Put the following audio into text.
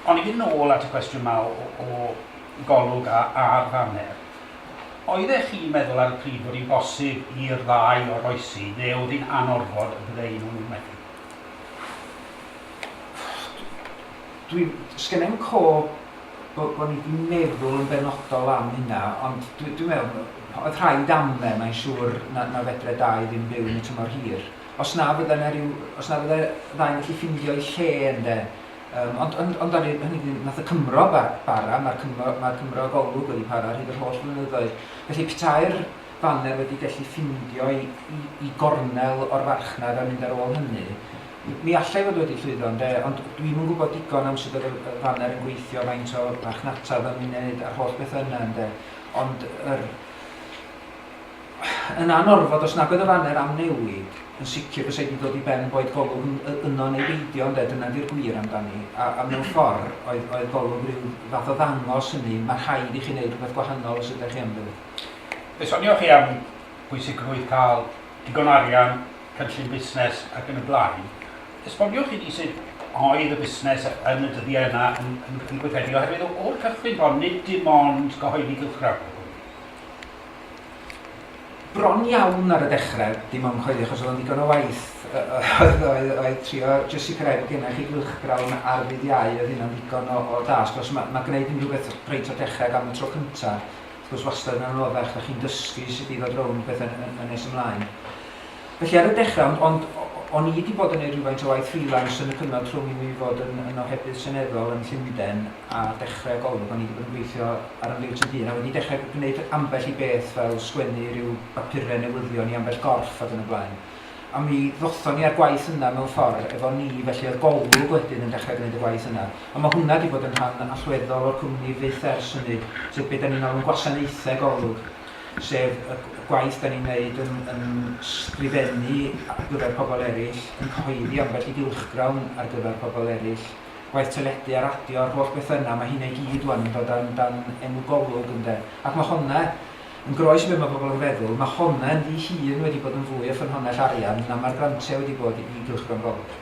Ond i fynd nôl at y cwestiwn 'ma o o golwg a- ar faner, oeddech chi'n meddwl ar y pryd fod hi'n bosib i'r ddau oroesi, neu oedd hi'n anorfod y bydde un o nhw'n methu? Dwi... sgynna i'm cof bo' bo' ni 'di meddwl yn benodol am hynna, ond dwi dwi'n meddwl oedd rhaid amle, mae'n siŵr, na na fedre dau ddim byw yn y tymor hir. Os na fydda yna ryw... os na fydda ddau yn gallu ffindio'u lle ynde. Yym ond ond ond ar hynny dyn nath y Cymro ba- bara, ma'r Cymro ma'r Cymro Golwg wedi para ar hyd yr holl flynyddoedd. Felly petai'r faner wedi gallu ffindio 'i 'i 'i gornel o'r farchnad a mynd ar ôl hynny, mi allai fod wedi llwyddo ynde, ond dwi'm yn gwybod digon am sut o'dd y y faner yn gweithio, faint o farchnata o'dd o'n 'i neud a'r holl betha yna ynde. Ond yr Yn anorfod, os nag oedd y faner am newid, yn sicr bysa hi 'di dod i ben boed Golwg yn y- yno neu beidio, ynde, dyna ydi'r gwir amdani. A, a mewn ffordd, oedd, oedd Golwg ryw fath o ddangos hynny, mae rhaid i chi wneud rhywbeth gwahanol os ydych chi am fyned. Fe sonioch chi am bwysigrwydd cael digon o arian, cynllun busnes ac yn y blaen. Esboniwch i ni sut oedd y busnes yn y dyddiau yna yn, yn, yn gweithredu, oherwydd o, o'r cychwyn bron, nid dim ond cyhoeddi cylchgrawn oedd hwn. bron iawn ar y dechrau, dim ond coelio achos oedd o'n ddigon o waith, oedd, oedd, oedd trio jyst sicrhau bod gennych chi gylchgrawn ar ddydd iau, oedd hynna'n ddigon o, o dasg. Os mae, mae gwneud unrhyw beth reit o dechrau gan y tro cyntaf, wrth gwrs wastad yn anoddach, da chi'n dysgu sut i ddod rownd beth yn, yn, yn nes ymlaen. Felly ar y dechrau, ond, ond, o'n i 'di bod yn neud rhywfaint o waith freelance yn y cyfnod rhwng i mi fod yn, yn ohebydd seneddol yn Llundain a dechre y golwg, o'n i 'di bod yn gweithio ar 'y mhleids yn hŷn a wedi dechre gwneud ambell i beth fel sgwennu ryw bapure newyddion i ambell gorff ac yn y blaen. A mi ddothon ni â'r gwaith yna mewn ffor efo ni, felly oedd Golwg wedyn yn dechre gneud y gwaith yna. A ma' hwnna 'di bod yn rhan allweddol o'r cwmni fyth ers hynny, sef be' 'dan ni'n alw'n gwasanaethe Golwg. sef y y gwaith 'dan ni'n neud yn yn sgrifennu ar gyfer pobl eryll, yn cyhoeddi ambell i gylchgrawn ar gyfer pobl eryll, gwaith teledu a radio a'r holl bethe yna, ma' hynna i gyd ŵan yn dod dan dan enw Golwg ynde? Ac ma' honna, yn groes i be' ma' pobl yn feddwl, ma' honna ynddi hun wedi bod yn fwy o ffynhonnell arian na ma'r grantia wedi bod i gylchgrawn Golwg.